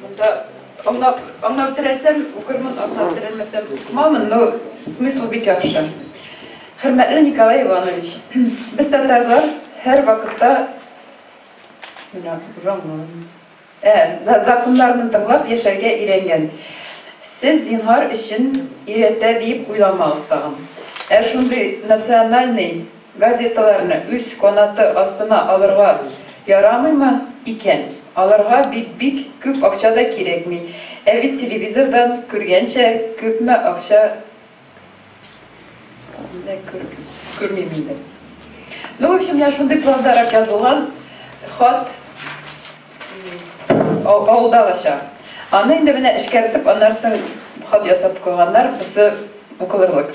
Монда аңлап, аңлап терәсәм, укырмын, аңлап терәмәсәм, укымамын, но смысл бик яхшы. Хөрмәтле Николай Иванович, без татарлар һәр вакытта менә аңламыйм. Ә, законнарны тыңлап яшәргә өйрәнгән. Сез зинһар өчен өйрәтә дип уйламагыз тагын. Ә шундый национальный Газеталарны үз канаты астына алырга ярамыймы икән? Аларга бит бик күп акча да кирәкми. Ә бит телевизордан күргәнчә күпме акча күрмим инде. Ну, в общем, менә шундый пландарак язылган хат авылдагыча. Аны инде менә эшкәртеп, аннары соң хат ясап куйганнар, берсе укылырлык.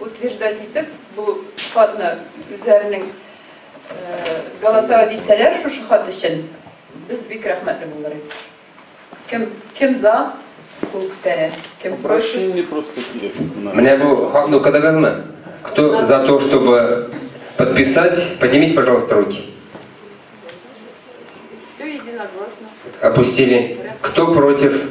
утверждать итеп, бу хатны үзләренең голосовать итсәләр шушы хат өчен, без бик рәхмәтле булыр идек. Кем, кем за, кул күтәрә, кем Обращение просто килеш. Менә бу хатны укыдыгызмы? Кто за то, чтобы подписать, поднимите, пожалуйста, руки. Все единогласно. Опустили. Кто против?